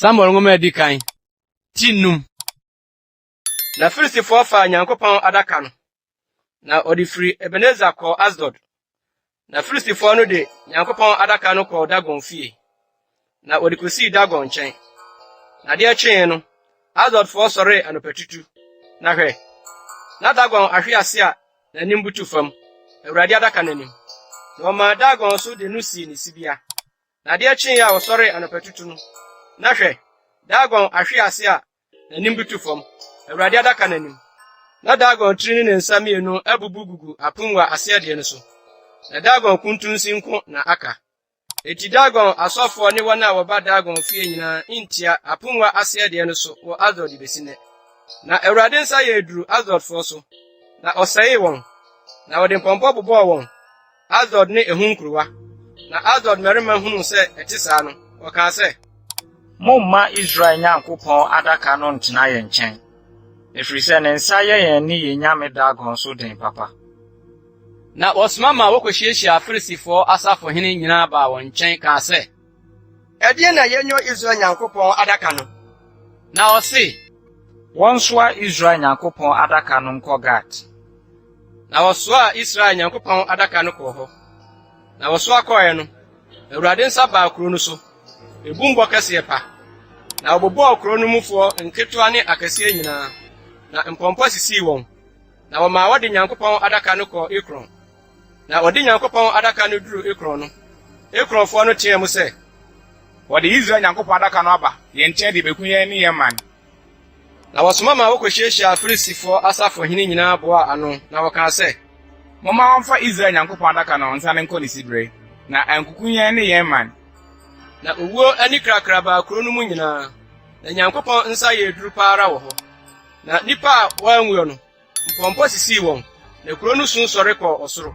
Samuel nwoma a edi kan, ti nnum. Na Filistifoɔ faa Nyankopɔn adaka no, na wɔde firi Ebeneser kɔɔ Asdod. Na Filistifoɔ no de Nyankopɔn adaka no kɔɔ Dagon fie, na wɔde kɔsii Dagon nkyɛn. Na adeɛ kyee no, Asdodfoɔ sɔree anɔpatutu, na hwɛ, na Dagon ahwe ase a n'anim butu fam, Awurade adaka no anim. Na wɔmaa Dagon so de no sii ne sibea. Na adeɛ kyee a wɔsɔree anɔpatutu no, na hwɛ, Dagon ahwe ase a N'anim butu fam, Awurade adaka no anim. Na Dagon tiri ne ne nsa mmienu abubu gugu apongua aseɛdeɛ no so, na Dagon kuntunsi nko na aka. Enti Dagon asɔfoɔ ne wɔn a wɔba Dagon fie nyinaa ntia apongua aseɛdeɛ no so wɔ Asdod bɛsi nnɛ. Na Awurade nsa yɛɛ duru Asdodfoɔ so, na ɔsɛee wɔn, na ɔde mpɔmpɔ bobɔɔ wɔn, Asdod ne ɛho nkurowa. Na Asdod mmarima hunuu sɛ ɛte saa no, wɔkaa sɛ. Momma Israel Nyankopɔn Adaka no ntena yɛn nkyɛn, ɛfiri sɛ ne nsa yɛ yɛn ne yɛn nyame Dagon so den papa. Na wɔsoma maa wɔkɔhyiahyiaa Filistifoɔ asafohene nyinaa baa wɔn nkyɛn kaa sɛ. Ɛdeɛn na yɛnyɔ Israel Nyankopɔn Adaka no? Na ɔse, Wɔnsoa Israel Nyankopɔn Adaka no nkɔ Gat. Na wɔsoaa Israel Nyankopɔn Adaka no kɔɔ hɔ. Na wɔsoa kɔɔɛ no, Awurade nsa baa kuro no so, ebum bɔ kɛseɛ pa, na wɔbobɔɔ kuro no mufoɔ nketewa ne akɛseɛ nyinaa, na mpɔmpɔ sisii wɔn, na wɔmaa wɔde Nyankopɔn Adaka no kɔɔ Ekron. Na wɔde Nyankopɔn Adaka no duruu Ekron no, Ekronfoɔ no teaa mu sɛ. Wɔde Israel Nyankopɔn Adaka no aba yɛn nkyɛn de rebɛku yɛn ne yɛn man. Na wɔsoma maa wɔkɔhyiahyiaa Filistifoɔ asafohene nyinaa boaa ano, na wɔkaa sɛ. Momma wɔmfa Israel Nyankopɔn Adaka no nsane nkɔ ne siberɛ, na ankuku yɛn ne yɛn man. Na owuo anikrakra baa kuro no mu nyinaa, na Nyankopɔn nsa yɛɛ duru pa ara wɔ hɔ. Na nnipa a wɔanwuo no, mpɔmpɔ sisii wɔn, na kuro no su sɔre kɔɔ ɔsoro.